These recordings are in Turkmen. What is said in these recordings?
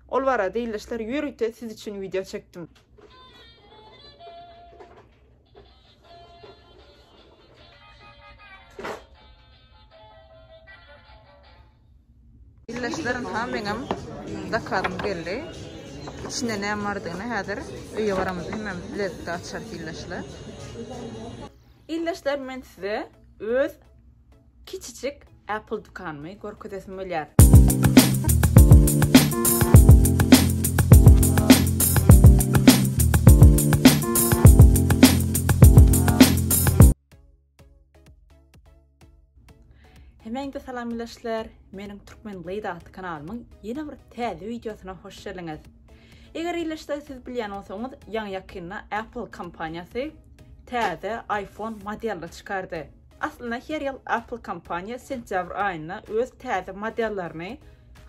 Ol barada ildeşler ýörite siz üçin wideo çekdim. Ildeşler ynha meňem zakazym geldi. İçinde näme bardygyny häzir öýe baramyz hemem bilelikde açarys ildeşler. Ildeşler men size öz Kiçijik Apple dükanymy görkezesim gelýär. Hemeňize salamlaşlar. Meniň Türkmen Gyz atly kanalymyň ýene bir täze wideosyna hoş geldiňiz. Eger ileşde siz bilýän bolsaňyz, ýaňy ýakynda Apple kompaniýasy täze iPhone modelini çykardy. Aslynda her ýyl Apple kompaniýa sentýabr aýynda öz täze modellerini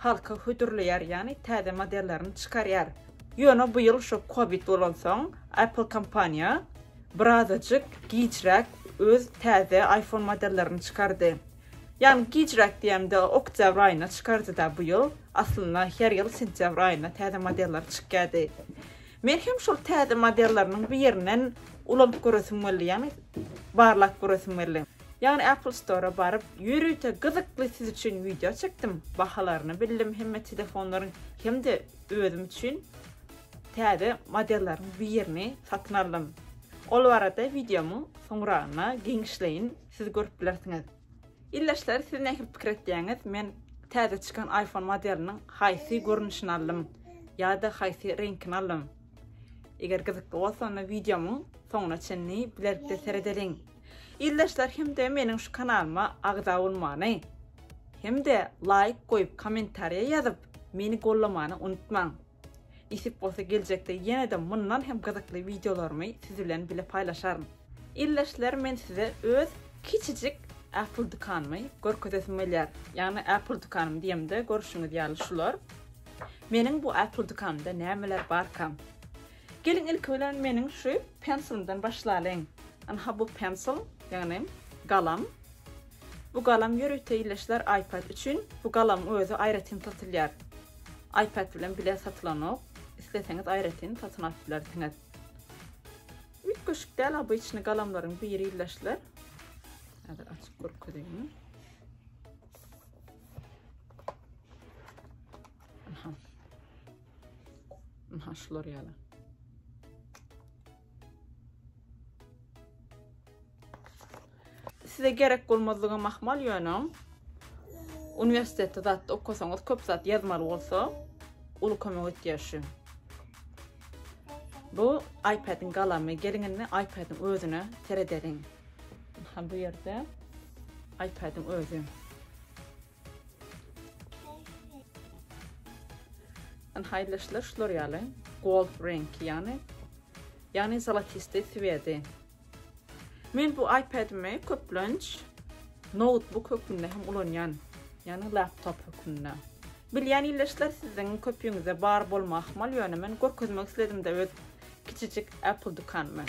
halka hödürleýär, ýagny täze modellerini çykarýar. Ýöne bu ýyl şo covid bolansoň Apple kompaniýa birazajyk gijräk öz täze iPhone modellerini çykardy. Ýagny gijräk diýemde oktýabr aýynda çykardyda bu ýyl. Aslynda her ýyl sentýabr aýynda täze modelleri çykýardy. Men hem şol täze modelleriniň birinden ulanyp göresim geldi, ýagny barlap göresim geldi. Ýagny Apple Store-a baryp, ýörite gyzykly siz üçin wideo çekdim, bahalaryny bildim hemme telefonlaryň hem-de özüm üçin täze modelleriň birini satyn aldym. Ol barada wideomyň soňragynda giňişleýin siz görüp bilersiňiz. Ildeşler siz nähili pikir etýäňiz? Men täze çykan iPhone modeliniň haýsy görnüşini aldym ýa-da haýsy reňkini aldym? Eger gyzykly bolsa onda wideomyň soňuna çenli bilelikde seredeliň. Ildeşler hem-de meniň şu kanalyma agza bolmany hem-de laýk goýup kommentariýa ýazyp meni gollamany unutmaň. Nesip bolsa geljekde ýene-de mundan hem gyzykly wideolarymy siz bilen bile paýlaşaryn. Ildeşler men size öz kiçijik Apple dükanymy görkezesim gelýär. Ýagny Apple dükanymy diýemde görşüňiz ýaly şular. Meniň bu Apple dükanymda nämeler barkam? Geliň ilki bilen meniň şu pensilmden başlalyň. Ynha bu pensil, ýagny galam. Bu galam ýörite işleşler iPad üçin bu galamyň özi aýratyn satylýar. iPad bilen bile satylanok. Isleseňiz aýratyn satyn alyp bilersiňiz. Üýtgeşik däl obyçny galamlaryň biri ildeşler. Häzir açyp görkezeýin. Aha. Aha şular ýaly. Size gerek bolmazlygy mahmal ýöne uniwersitetde zat okasaňyz köp zat ýazmaly bolsa uly kömek etýär şu. Bu iPad-iň galamy, geliň indi iPad-iň özüne seredeliň. Ha bu ýerde iPad-iň özi. Ýani haýyly işler şular ýaly. Gold reňki ýani. Ýani zolotistý swedi. Men bu iPad-imi köplenç notebook hökmünde hem ulanýan. Ýani laptop hökmünde. Bilýän ildeşler siziň köpüňizde bar bolma ahmal, ýöne men görkezmek isledim-de öz kiçijik Apple dükanymy.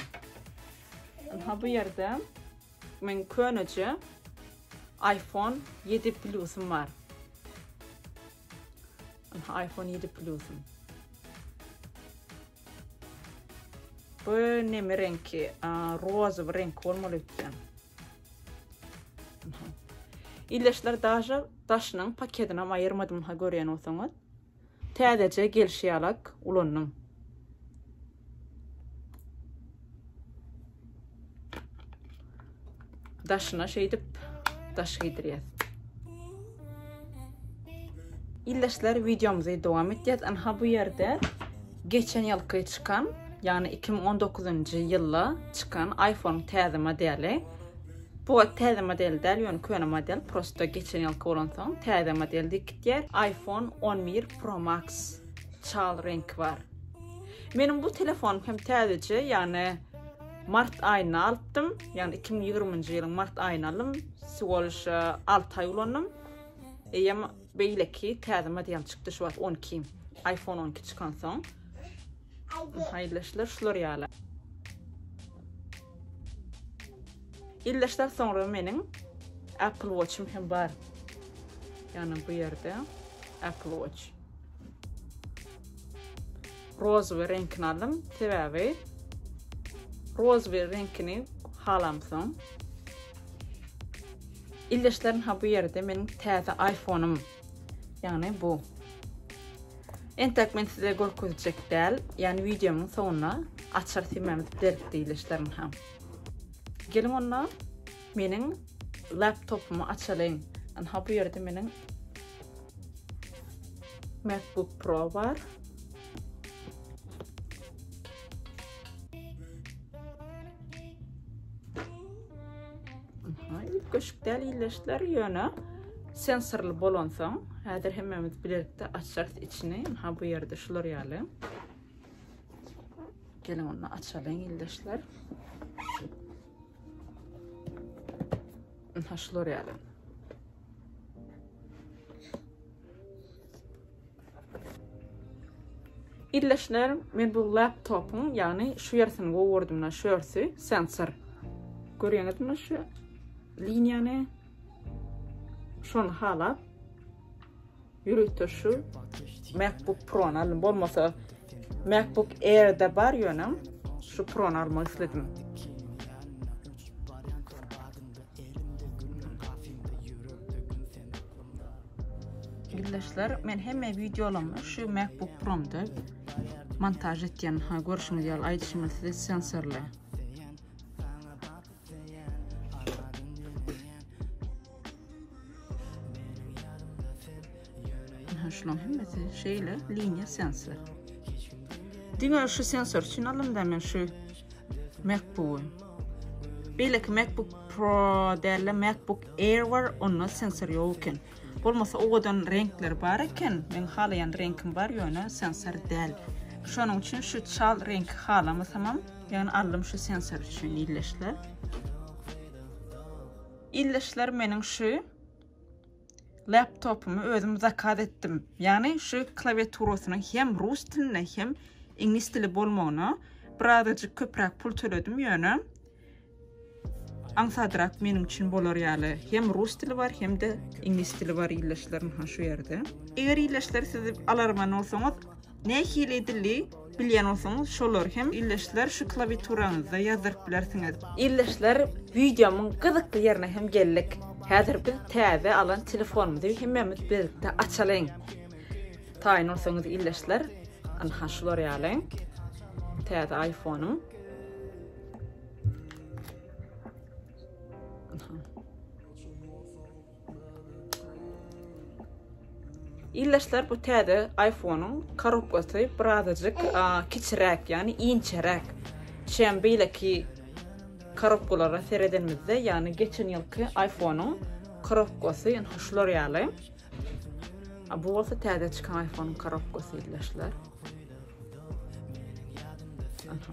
Ynha bu ýerde Meň köneje iPhone ýedi plusym bar. Aha, iPhone ýedi plusym. Bu neme reňki? Rozowy reňki bolmaly öýtýän. Aha. Illeşler daže daşynyň paketini hem aýyrmadym, ha görýän bolsaňyz. Täzeje gelşi ýalak ulandym. Daşyna şeýdip daş giydirýäs. Ildeşler videomuzy dowam etýäs. Anha bu ýerde geçen ýylky çykan, ýagny 2019-njy ýylda çykan iPhone täze modeli Bu gat täze model däl ýöne köne model prosto geçen ýylky bolansoň täze model diýip gitýär iPhone on bir pro max çal reňki bar meniň bu telefonym hem täzeje ýagny mart aýynda alypdym ýagny iki müň ýigriminji ýylyň mart aýynda aldym siwoliş alty aý ulandym eýem beýleki täze model çykdy şu wagt on iki iPhone on iki çykansoň Haýyrly işler şular ýaly. Ildeşler soňra meniň Apple Watch'ym hem bar. Ýagny bu ýerde Apple Watch. Rozowy reňkini aldym, sebäbi rozowy reňkini halamsoň. Ildeşlerim ha bu ýerde meniň täze iPhone'ym. Ýagny bu. Entek men size görkezjek däl, ýagny wideomyň soňunda açar simämiz berip diýilişlerin ha. Geliň onda meniň laptopymy açalyň. Anha bu ýerde meniň MacBook Pro bar. Üýtgeşik däl iýleşdiler ýöne sensorly bolansoň, häzir hemmämiz bilelikde açarys içini. Ha bu ýerde şular ýaly. Gelin onda açalyň iýleşdiler. Ha şular ýaly. Ildeşler, men bu laptopyň, ýagny şu ýersini gowurdym muna, şu ýersi, sensor. Görýäňizmi şu liniýany? Şony halap, ýüritde şu MacBook Pro-ny aldym. Bolmasa MacBook Air-de bar ýöne şu Pro-ny almak isledim. Ildeşler, men hemme videolarymy şu MacBook Promda montaž etýän. Ha, görşüňiz ýaly, aýdyşyma size sensorly. Ha, şulan hemmesi şeýle liniýa sensor. Diňe şu sensor üçin alynda men şu MacBook. Beýleki MacBook Pro däl-de MacBook Air bar, onda sensor ýok eken. Bolmasa owadan reňkler bar eken. Meň halaýan reňkim bar, ýöne sensor däl. Şonuň üçin şu çal reňki halamasamam, ýöne aldym şu sensor üçin ildeşler. Ildeşler meniň şu laptopymy özüm zakaz etdim. Ýagny şu klawiaturasynyň hem rus dilinde hem iňlis dili bolmagyna birazajyk köpräk pul töledim ýöne aňsadrak meniň üçin bolar ýaly hem rus dili bar hem-de iňlis dili bar ildeşlerim ha şu ýerde. Eger ildeşler siz alarman bolsaňyz Nähili dili bilýän bolsaňyz şolary hem ildeşler şu klawiaturaňyzda ýazdyryp bilersiňiz. Ildeşler wideomyň gyzykly ýerine hem geldik. Häzir biz täze alan telefonymyzy hemmämiz birlikde açalyň. Taýyn bolsaňyz ildeşler ynha şular ýaly täze aýfonym. Ildeşler bu täze iPhone-yň korobkasy birazajyk kiçiräk, ýagny inçeräk. Şem beýleki korobkalara seredenimizde, ýagny geçen ýylky iPhone-yň korobkasy ýa-da şular ýaly. A bu bolsa täze çykan iPhone-yň korobkasy ildeşler. Aha.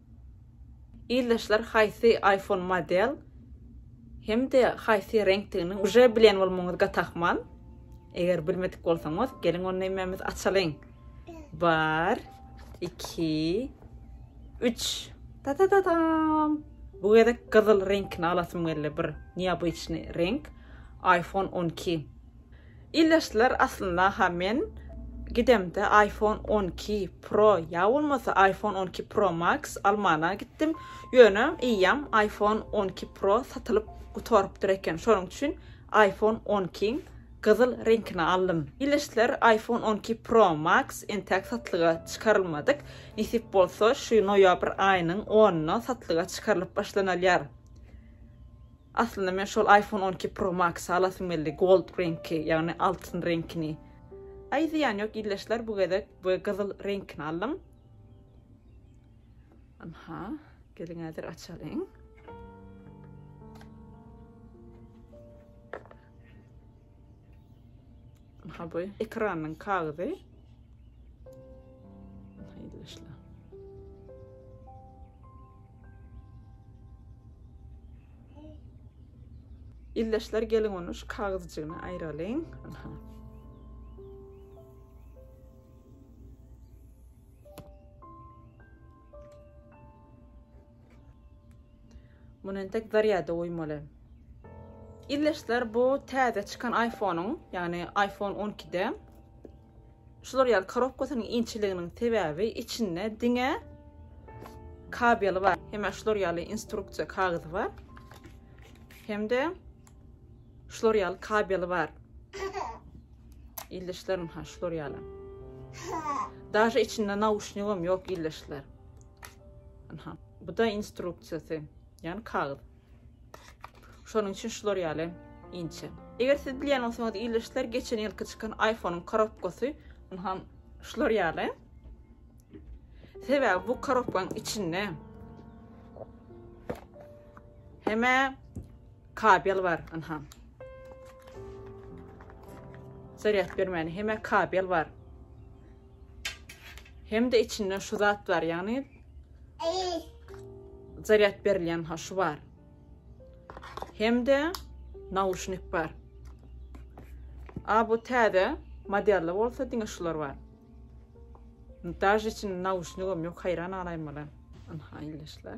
Ildeşler haýsy iPhone model hem-de haýsy reňkdigini uje bilen bolmagyňyz gat ahmal. Eger bilmedik bolsaňyz, geliň ony hemmämiz açalyň. Bar, iki, üç. Ta-ta-ta-tam! Bu gezek gyzyl reňkini alasym geldi, bir neobyçnyý reňk. iPhone on iki. Ildeşler aslyndaha men gidemde iPhone on iki pro ýa bolmasa iPhone on iki pro max almana gitdim, ýöne eýýäm iPhone on iki pro satylyp gutarypdyr eken, şonuň üçin iPhone on ikiň gyzyl reňkini aldym. Ildeşler iPhone on iki pro max entäk satlyga çykarylmadyk, nesip bolsa şu noýabr aýynyň onyna satlyga çykarylyp başlanalýar. Aslynda men şol iPhone on iki Pro Max-y alasym geldi, gold reňki, ýagny altyn reňkini. Aý zyýan ýok ildeşler bu gezek bu gyzyl reňkini aldym. Anha, geliň häzir açalyň. Ha bu ekranyň kagyzy. Haýyr işler. Illeşler gelin onu şu kagyzjygyny aýralyň. Muny entek zarýada goýmaly. Ildeşler bu täze çykan iPhone-yň, ýagny iPhone 12-de şular ýaly korobkasynyň inçeliginiň sebäbi içinde diňe kabeli bar. Hemä şular ýaly instruksiýa kagyzy bar. Hem-de Şular ýaly kabeli bar. Ildeşlerim ha şular ýaly. Daşa içinde nauşnigim ýok ildeşler. Aha. Bu da instruksiýasy. Yani kagyz. Şonuň üçin şular ýaly inçe. Eger siz bilýän bolsaňyz ildeşler geçen ýylky çykan iPhone-yň korobkasy aha şular ýaly. Sebäbi bu korobkaň içinde hemä Kabel bar ynha. Zarýad bermäni hemä kabel bar. Hem-de içinde şu zat bar, ýagny zarýad berilýän ha şu bar. Hem-de nauşnik bar. A bu täze modelde bolsa diňe şular bar. Daş için nauşnigim yok hayran alaymalar. Anha ilişler.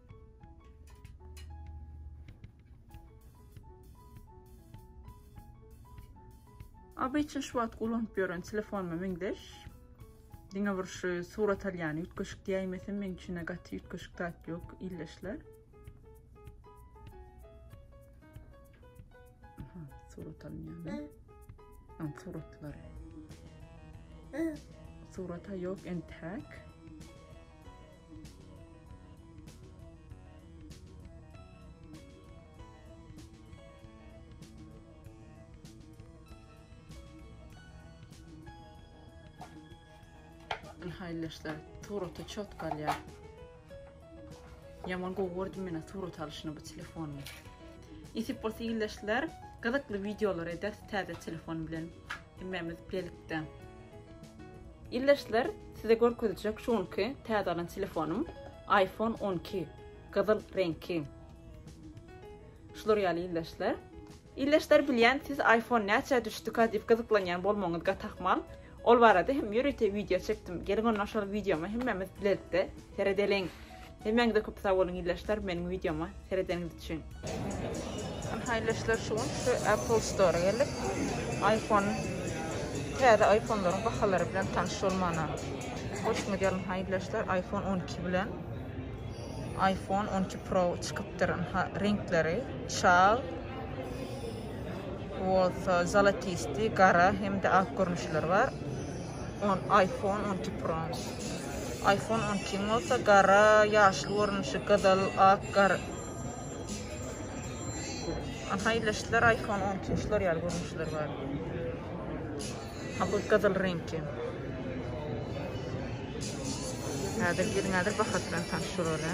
Obyçny şu wagt ulanyp ýören telefonma meňzeş. Diňe bir şu surat alýan ýütgeşik diýäýmesin, meň üçin gaty ýütgeşik zat ýok, ildeşler. surat alınýan. Am suratlar. Surata ýok entek. Haýyldaşlar suraty çotga alýar. Ýaman gowy gördüm men surat alşyny bu telefonyň. Nesip bolsa ildeşler, gyzykly wideolar eder täze telefon bilen. Hemmemiz birlikde. Ildeşler, size görkezjek şu günki täze alan telefonym iPhone 12 gyzyl reňki. Şular ýaly ildeşler. Ildeşler bilýän, siz iPhone näçe düşdüka diýip gyzyklanýan bolmagyňyz gatahmal. Ol barada hem ýörite wideo çekdim. Geliň ondan şol wideoma hemmemiz birlikde seredeliň. Hemmäňize köp sag boluň ildeşler meniň wideoma seredeniňiz üçin. Ynha ildeşler şu gün şu Apple Store geldik. Iphone täze iPhonelaryň bahalary bilen tanyş bolmana hoşuma geldi ynha ildeşler iPhone 12 bilen iPhone 12 Pro çykypdyr ynha reňkleri çal bolsa zolotistý gara hem-de ak görnüşleri bar. On iPhone on iki pro. iPhone on iki bolsa gara ýaşly görnüşi gyzyl ak gar. Aha ileşdiler iPhone on iki şular ýaly görnüşler bar. Ha bu gyzyl reňki. Häzir geliň häzir bahat bilen tanşyr ola.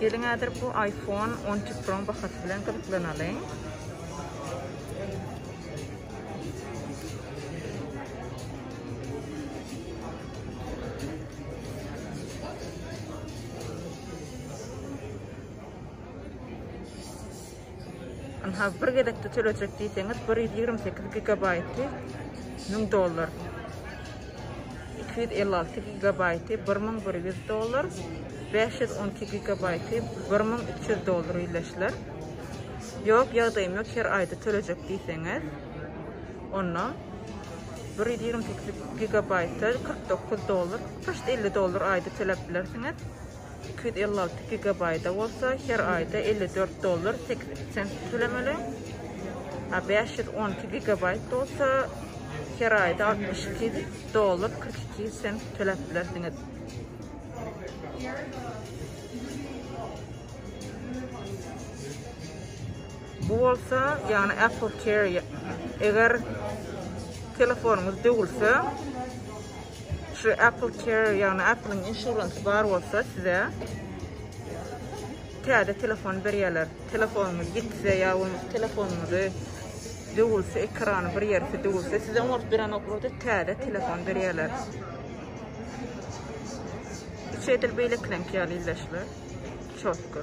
Geliň häzir bu iPhone 12 Pro bahasy bilen gyzyklanalyň. Ynha bir gezekde tölejek diýseňiz bir ýüz ýigrimi sekiz gigabaýty müň dollar. Iki ýüz elli alty gigabaýty bir müň bir ýüz dollar. Bäş ýüz on iki gigabaýty bir müň üç ýüz dollar iýleşiler. Ýok ýagdaýym ýok her aýda tölejek diýseňiz. Onda bir ýüz ýigrimi sekiz gigabaýty kyrk dokuz dollar, prosta elli dollar aýda töläp bilersiňiz. Iki ýüz elli alty gigabaýta bolsa her aýda elli dört dollar sekiz sent tölemeli. A bäş ýüz on iki gigabaýt bolsa her aýda altmyş iki dollar kyrk iki sent töläp bilersiňiz. Bu bolsa, ýagny Apple Care eger telefonyňyz döwülse, Şu Apple Care, ýagny Apple-iň insurance bar bolsa size täze telefon berýärler. Telefonyňyz gitse ýa bolmasa telefonyňyzy döwülse, ekrany bir ýerki döwülse, size oňaryp berenoklarda täze telefon berýärler. Üç edil beýlekilenki ýaly ildeşler. Çotko.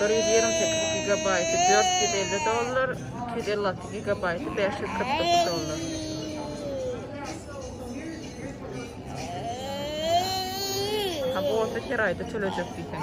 Bir ýüz ýigrimi sekiz gigabaýty dört ýüz elli dollar, iki ýüz elli alty gigabaýty bäş ýüz kyrk dokuz dollar. Ha, bu bolsa her aýda töleýjek diýseň.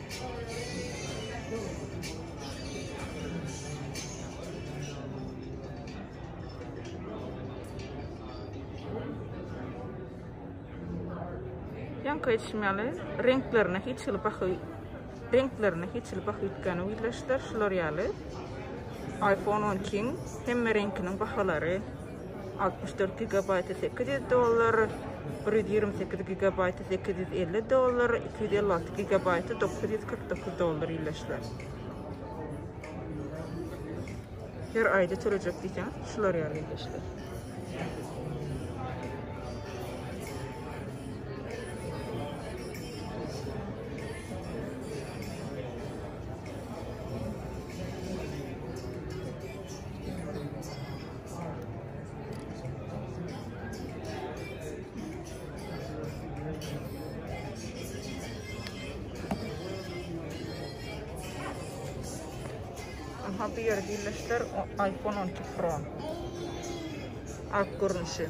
Ýaňky etşim ýaly, reňklerine hiç hili baha reňklerine hiç hili baha üýtgäni widlaşdyr. Şular ýaly iPhone 12-iň hemme reňkiniň bahalary Altmyş dört gigabaýty sekiz ýüz dollar, bir ýüz ýigrimi sekiz gigabaýty sekiz ýüz elli dollar, iki ýüz elli alty gigabaýty dokuz ýüz kyrk dokuz dollar iýleşler. Her aýda törejek diýseňiz, şular ýaly iýleşler. Aha bu ýere birleşdir iPhone 12 Pro. Ak görnüşi.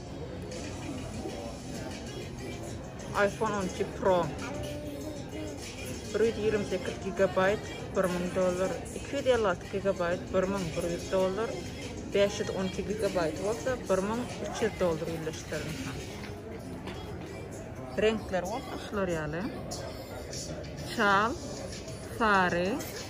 iPhone on iki Pro bir ýüz ýigrimi sekiz gigabaýt bir müň dollar, iki ýüz elli alty gigabaýt bir müň bir ýüz dollar, bäş ýüz on iki gigabaýt bolsa bir müň üç ýüz dollar ýerleşdirilen. Reňkler bolsa şular ýaly. Çal, sary,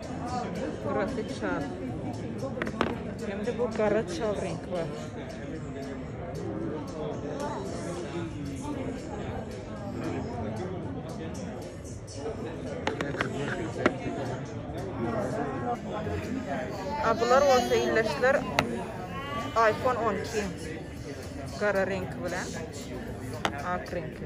Altyn suratly çal. Hem-de bu gara çal reňki bar. A bular bolsa illeşler iPhone 12 gara reňki bilen ak reňki.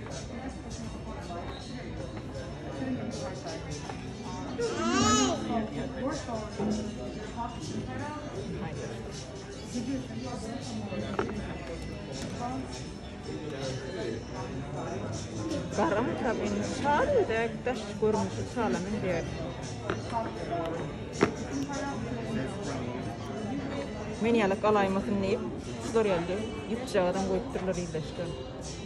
Gara makaron çal dek daş görnüşi çala meňzeýär. Men ýaly galaýmasyn diýip, şular ýaly ýüpjagazam goýupdyrlar ýylyşda.